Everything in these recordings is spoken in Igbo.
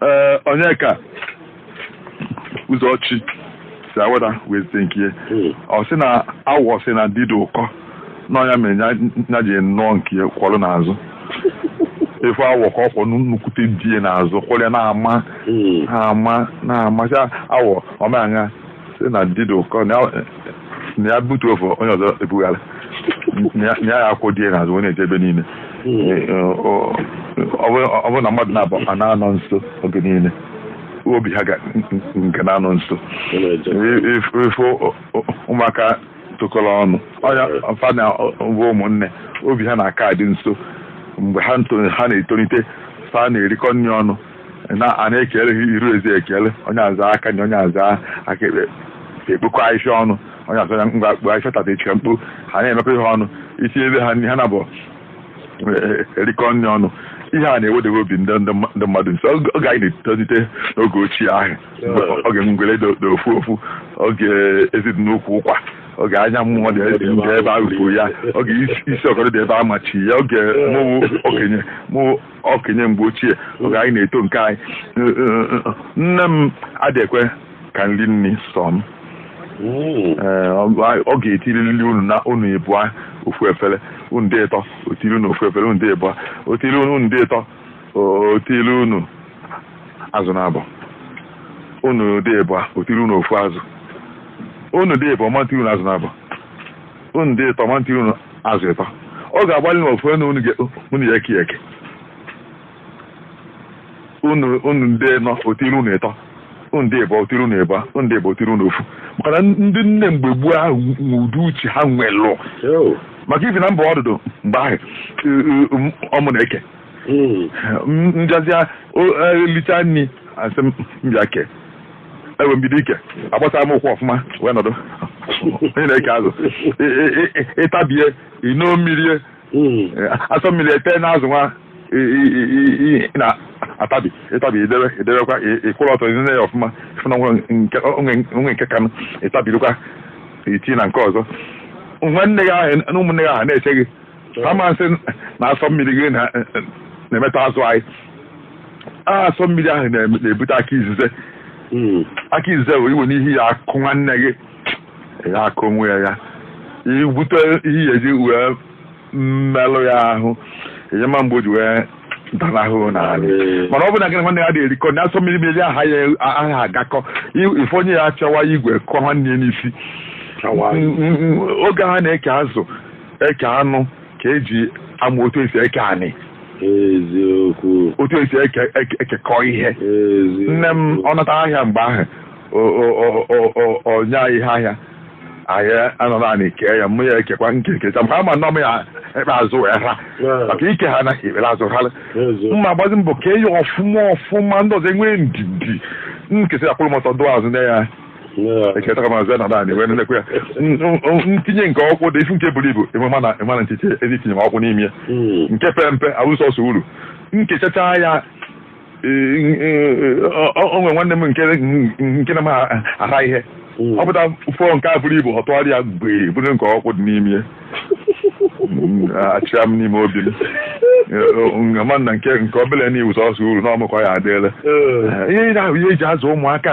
ee Onyeka Ụzọchi si Awada wee zite nke ya ọ sị na awọ sị na di dị ụkọ na ọ nya mere ya ya ji nụọ nke ya kwọrọ n'azụ ị fụ awọ ka ọ kwọ nnukwute di ya n'azụ kwọrọ ya na-ama na-ama na-amacha awọ ọmaṅa sị na di dị ụkọ na ya- na ya butuo ofu onye ọzọ ebugharị na ya- na ya akwọ di ya n'azụ wee na-eje ebe niile Ee, ọ- ọ bụrụ- ọ bụrụ na mmadụ naabọ a na-anọ nso oge niile obi ha ga nke na-anọ nso ị fụ ụmụaka tokọrọ ọnụ ọ nya bụ fa na bụ ụmụnne obi ha na-aka adị nso mgbe ha nto- ha na-etolite fa na-erikọ nri ọnụ na a na-ekele ha iru ezi e kele onye aza aka nri onye aza aka ekpe ekpokọ ahịhịa ọnụ onye azọ ya ngwa kpo ahịhịa tata echi ka m kpo ha na-emekọ ihe ọnụ isi ebe ha ha na bụ erikọ nri ọnụ ihe a na-ewedewe obi ndị ndị mma- ndị mmadụ nso Oge- oge anyị na-etolite n'oge ochie ahụ oge ngwere dị dị ofu ofu oge ezi dị n'ukwu ụkwa oge anya mmụọ dị dị ebe ahụ kwuru ya oge isi isi ọkọrọ dị ebe a machi ya oge mụ wụ okenye mụ wụ okenye mgbe ochie oge anyị na-eto nke anyị nne m adị ekwe ka m ri nri sọ m Ee, ọ ọ ga-etirili unu na unu ịbụa ofu efere unu dị ịtọ o tiri unu ofu efere unu dị ịbụa o tiri unu unu dị ịtọ o- o tiri unu azụ naabọ unu dị ịbụa o tiri unu ofu azụ unu dị ịbụa ọ ma etiri unu azụ naabọ unu dị ịtọ ọ ma etiri unu azụ ịtọ ọ ga-agbalị na ọ fụ na unu ya-eke eke unu dị ịnọ o tiri unu ịtọ unu dị ịbọ o tiri unu ịbọ unu dị ịbọ o tiri unu ofu maka na ndị nne mgbe gboo ahụ nwe ụdị uche ha nwelụ maka ifi na m bụ ọdụdụ mgbe ahụ ọ mụ na-eke mbịazịa elicha nri a sị m bịa kee ewee m bido ike agbasaa m ụkwụ ọfụma wee nọdụ onye na-eke azụ Ị- ị- ị- ị- ị tabie i noo mmiri Mm. asọ mmiri ete n'azụ nwa ị- ị- ị- ị- ị- ị na-atabi ị tabie i debe i debekwa ị- ị kwụrụ ọtọ nee ya ọfụma fụ na o nwe nke o nwe o nwe nke kanụ ị tabirikwa i tinye na nke ọzọ nwanne gị ahụ na ụmụnne gị ahụ na-eche gị ha ma asị na asọ mmiri gị na- na-emetọ azụ anyị a asọ mmiri ahụ na- na-ebute aka izize Mm. aka izize wee iwe n'ihi ya akụ nwanne gị ya akụ onwe ya ya ebute ihe ya eji wee melụ ya ahụ enyema mgbe o ji wee danahụ n'anị Ee. mana ọ bụ na gị na nwanne ya dị erikọ na asọ mmiri mmiri ha ya ha agakọ I- ị fụ onye ya-achọwa igwe kụọ nwanne ya n'isi Awa. Mm, mm, mm, oge ha na-eke azụ eke anụ ka eji amụ otu esi eke anị eziokwu otu esi eke eke- ekekọ ihe eziokwu nne m ọ nata ahịa mgbe ahụ o- o- o- o- o- o nye anyị ihe ahịa anyị anọ n'anị kee ya mụ ya ekekwa nke m kecha maka ama nọ m ya ekpe azụ wee ha Yeah. maka ike ha na ikpere azụ ha eziokwu mụ agbazi mbọ kee ya ọfụma ọfụma ndị ọzọ enwee ndidi m kesịa a kwụrụ m ọtọ dụ azụ na ya echetara m azụ na naanị wee nlekwa ya m tinye nke ọkwụ dị isi nke buru ibu enwe mana mana nchiche ezi itinye m ọkwụ n'ime hmm. nke pere mpe abụrụ sọsọ uru m kechacha ya e, e, e, onwe nwanne m nke na-amaha ihe hmm. ọ pụta fụọ nke a buru ibu ọ tụgharị ya wee buru nke ọkwụ dị n'ime hmm, achịa m n'ime obi m ma na nke nke obele na ọ wụ sọsọ uru na ọ mụ kọ ya adịele ihe ị na-ahụ ihe eji azụ ụmụaka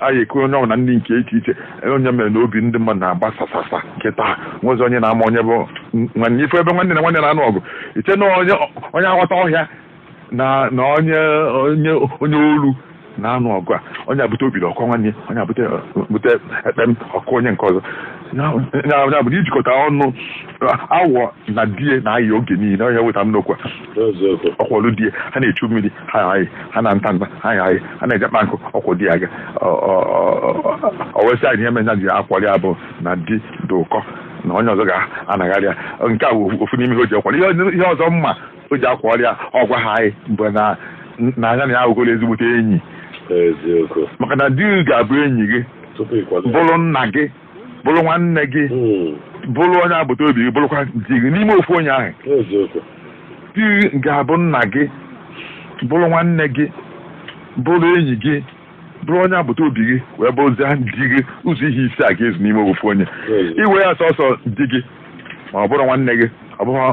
anyị ekuru onye ọbụla nri nke iche iche ọ nya mere na obi ndị mmadụ na-agbasasasa kịtaa e nwezi onye na-ama onye bụ nwanne ibe ebe nwanne na nwanne na-anụ ọgụ iche na onye onye aghọta ọhịa na na onye onye onye olu na-anụ ọgụ a onye a bute okpiri ọ kụọ nwanne onye a bute bute ekpem ọ kụọ onye nke ọzọ ya bụ na ijikọta ọnụ awọ na di e na-ayị oge niile ọ nya weta m n'okwu a ọ kwọlụ di e ha na-echu mmiri ha ayị ha na nta nta ha ayị ha na-eje kpa nkụ ọ kwọ di ya aga o wee sị anyị ihe me nya ji akwọrị ya bụ na di dị ụkọ na onye ọzọ ga-anagharị ya nke a bụ ofu n'ime ihe o ji akwọrị ihe ọzọ me o ji akwọrị ya ọ gwaha anyị bụ na na nya na ya awụgoro ezigbote enyi maka na di ga-abụ enyi gị bụrụ nna gị bụrụ nwanne gị Mm. bụrụ onye agbata obi gị bụrụkwa di gị n'ime ofu onye ahụ Eziokwu. di gị ga-abụ nna gị bụrụ nwanne gị bụrụ enyi gị bụrụ onye agbata obi gị wee bụrụzie di gị ụzọ ihe ise a ga-ezu n'ime ofu onye Eziokwu. i wee ya sọsọ di gị ma ọ bụrọ nwanne gị ọ bụrọ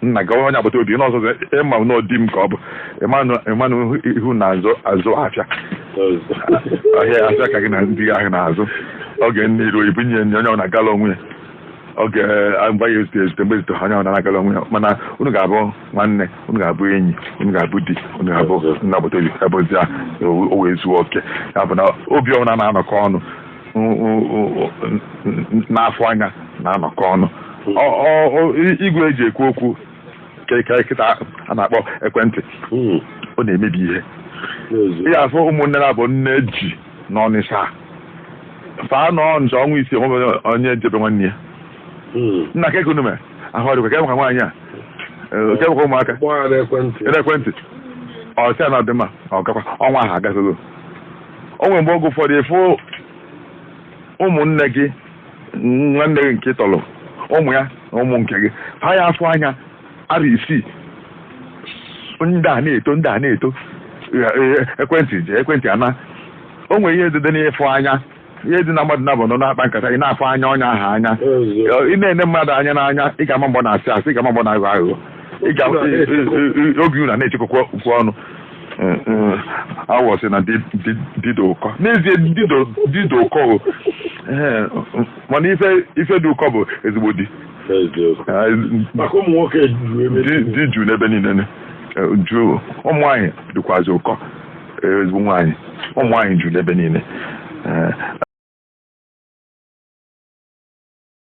nna gị onye agbata obi n'ọzọ ịma na ọ dị m ka ọ bụ ị ma na unu na-azụ afịa ahịa afịa ka gị na di ahụ na-azụ oge nne iru ibu nye onye ọbụna agala onwe ya oge eh, mgbe ya ezute ezute mgbe ezute onye ọbụna agala onwe ya mana unu ga-abụ nwanne unu ga-abụ enyi unu ga-abụ di unu ga-abụ nna agbata obi ebe ozi a o wee zuo oke ya bụ na obi ọbụla na-anọkọ ọnụ na-afụ anya na-anọkọ ọnụ igwe eji ekwu okwu kịta a na-akpọ ekwentị hmm. ọ na-emebi ihe ị ya-afụ ụmụnne naabọ nne ji n'Ọnịsha fa anọ nje ọnwa isii o nwe onye je be nwanne ya hmm. nna kee ka unu me ahụ ọ dịkwa kee maka nwaanyị a eh, kee maka ụmụaka ekwentị ọ sị ya na ọ dị mma ọ gakwa ọnwa ahụ agazolo o nwere mgbe oge ụfọdụ ịfụ ụmụnne gị nwanne gị nke tọrọ ụmụ ya na ụmụ nke gị ha ya afụ anya arọ isii ndị a na-eto ndị a na-eto ekwentị ji ekwentị mana o nwere ihe dị n'ịfụ anya ihe dị na mmadụ naabọ nọ na-akpa nkata ị na-afụ anya onye ahụ anya ị na-ene mmadụ anya n'anya ị ga-ama mgbe ọ na-asị asị ị ga-ama mgbe ọ na-aghọ aghụghọ ị ga oge unu na-echekwa okwu ọnụ Eh, eh, wa sị na di dị ụkọ n'ezie di dị ụkọ eh, mana ife dị ụkọ bụ ezigbo di ah, di juu n'ebe niile juu ụmụ nwaanyị dịkwazi ụkọ ezigbo nwaanyị ụmụ nwaanyị juu n'ebe niile